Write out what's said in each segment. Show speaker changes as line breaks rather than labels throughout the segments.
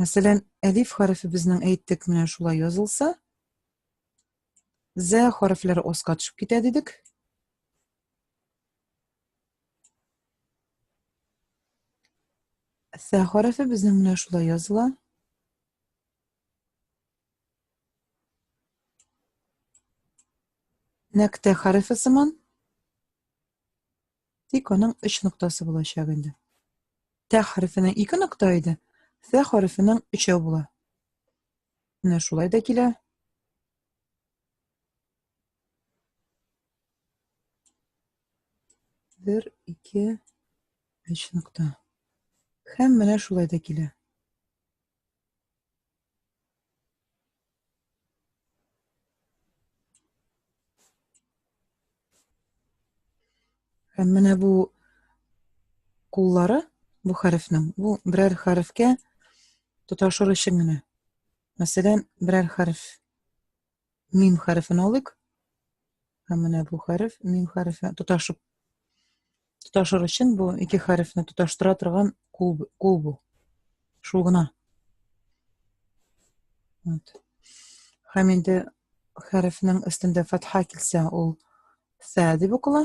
Мәсәлән, әлиф хәрефе безнең әйттек менә шулай язылса, зә хәрефләре аска төшеп китә дидек. Сә хәрефе безнең менә шулай языла. Нәктә хәрефе сыман Тик аның өч ноктасы булачак инде. Тә хәрефенең ике нокта иде, фә хәрефенең өчәү була. Менә шулай да килә. Бер, ике, өч нокта. Һәм менә шулай да килә. Һәм менә бу куллары, бу хәрефнең, бу берәр хәрефкә тоташыр өчен генә. Мәсәлән, берәр хәреф Мим хәрефен алыйк. Һәм менә бу хәреф мим хәрефе тоташып тоташыр өчен бу ике хәрефне тоташтыра торган кул, кул бу. Шул гына. Вот. Һәм инде хәрефнең өстендә фатха килсә, ул сә дип укыла.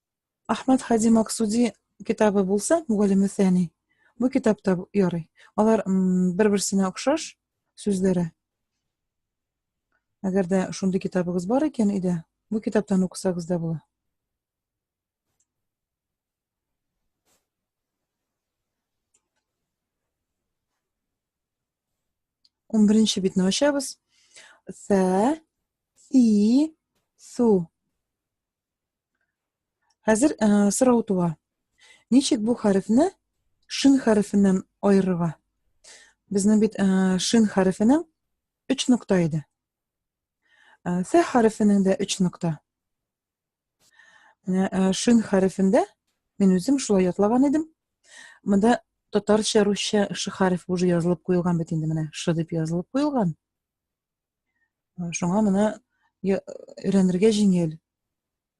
Ахмад Хади Максуди китабы булса, Мугалим Сәни, бу китапта ярый. Алар бер-берсенә охшаш сүзләре. Әгәр дә шундый китабыгыз бар икән иде, бу китаптан укысагыз да була. Ун беренче битне ачабыз. Сә, си, су. Хәзер ә, э, сорау туа. Ничек бу хәрефне шин хәрефеннән аерырга? Безнең бит ә, э, шин хәрефенең 3 нокта иде. Ә, фә хәрефенең дә 3 нокта. Менә ә, шин хәрефендә мин үзем шулай ятлаган идем. Монда татарча, русча ш хәреф уже язылып куелган бит инде менә ш дип язылып куелган. Шуңа моны өйрәнергә җиңел.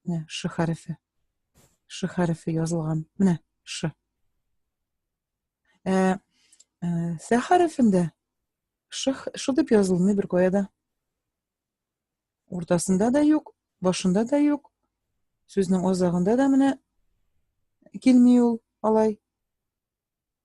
Менә ш хәрефе. Ш хәрефе язылган. Менә ш. Ә, ә сә хәрефендә ш, ш дип язылмый бер каяда. Уртасында да юк, башында да юк. Сүзнең азагында да менә килми ул алай.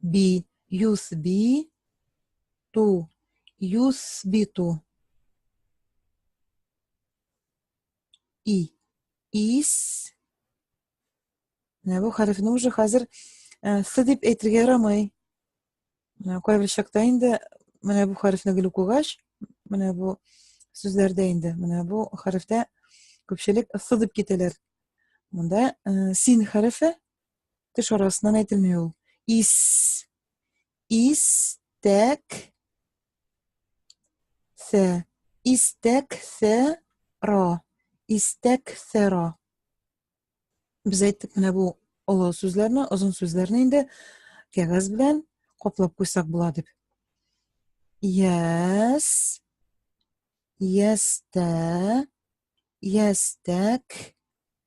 би, юс би, ту, юс би ту. И, ис. Менә бу хәрефне уже хәзер э, с дип әйтергә ярамый. Менә кайбер чакта инде менә бу хәрефне гел укыгач, менә бу сүзләрдә инде, менә бу хәрефтә күпчелек с дип китәләр. Монда э, син хәрефе Теш арасыннан әйтелми ул. Ис. Истәк. Сә. Истәк сә ра. Истәк сә ра. Без әйттек менә бу олы сүзләрне, озын сүзләрне инде кәгазь белән каплап куйсак була дип. Яс. Ястә. Ястәк.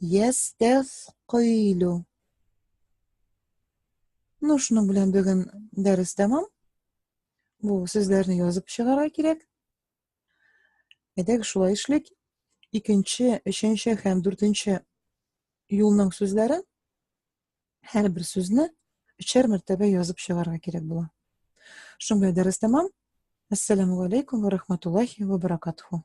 Ястәфкыйлю. Ну, шуның белән бүген дәрес тәмам. Бу сүзләрне язып чыгарга кирәк. Әйдәк, шулай эшлик. Икенче, өченче һәм дүртенче юлның сүзләрен һәр бер сүзне өчәр мәртәбә язып чыгарга кирәк була. Шуның белән дәрес тәмам. Ассаламу алейкум ва рахматуллахи ва баракатуху.